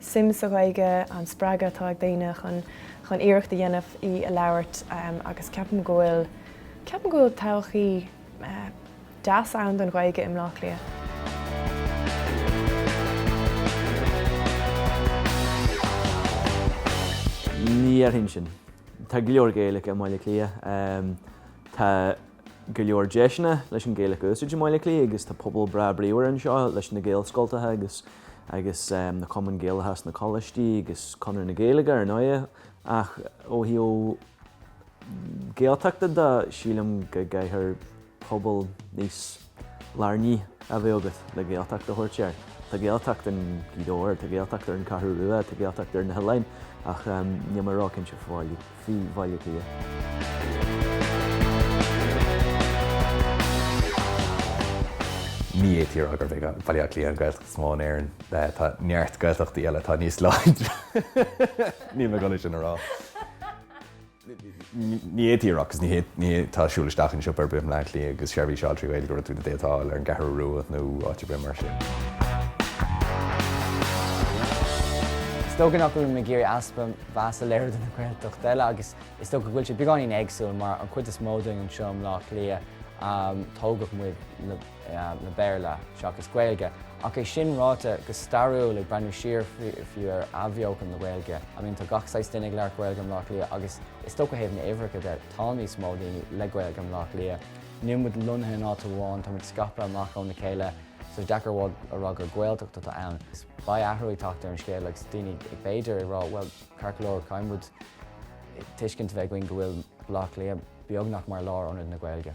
suim sa Ghaeilge, an spreagadh atá ag daoine chun chun iarracht a dhéanamh í a labhairt agus ceapaim go bhfuil ceapaim go bhfuil todhchaí deas ann don Ghaeilge i mBleá Cliath. Ní dhéarfainn sin. Tá go leor Gaeilge i mBaile Átha Cliath. Tá. go leor deiseanna leis an Gaeilge a úsaid i mBaile Átha Cliath agus tá pobal breá bríomhar anseo leis na Gaelscoltacha agus agus na Cumainn Gaelacha sna coláistí agus Conradh na Gaeilge ar ndóigh ach ó thaobh Gaeltachta de sílim go gcaithfear pobal níos lárnaí a bheith agat le Gaeltacht a thabhairt air. Tá Gaeltacht in Gaoth Dobhair, tá Gaeltacht ar an gCeathrú Rua, tá Gaeltacht ar na hoileáin ach níl mé róchinnte faoi Bhaile Átha Cliath. Ní fhéadfaí a rá gurb é Baile Átha Cliath an Ghaeltacht is mó in Éirinn. Tá neart Gaeltachtaí eile atá níos láidre. Níl mé ag iarraidh sin a rá. Ní fhéadfaí a rá agus ní tá ag siúl isteach in siopa ar bith i mBaile Átha Cliath agus seirbhís a fháil trí Ghaeilge go raibh tú ag déileáil ar an gCeathrú Rua nó áit ar bith mar sin. Is dócha nach bhfuil mé ag iarraidh easpa mheasa a léiriú do na Gaeltachta eile agus is dócha go bhfuil sé beagáinín éagsúil mar an chuid is mó dínn anseo i mBleá Cliath tógadh muid le Béarla seachas Gaeilge. Ach é sin ráite, go stairiúil, ag breathnú siar fiú ar athbheochan na Gaeilge, I mean tá gach saghas duine ag labhairt Gaeilge i mBleá Cliath agus is dócha ó thaobh na uimhreacha de, tá níos mó daoine le Gaeilge i mBleá Cliath. Níl muid lonnaithe in áit amháin, tá muid scaipthe amach óna chéile so is deacair a rá gur Gaeltacht atá ann. Beidh athrú ag teacht ar an scéal agus daoine b'fhéidir ag rá bhuel ceart go leor caithfidh muid tuiscint a bheith againn go bhfuil Bleá Cliath beagnach mar lárionad na Gaeilge.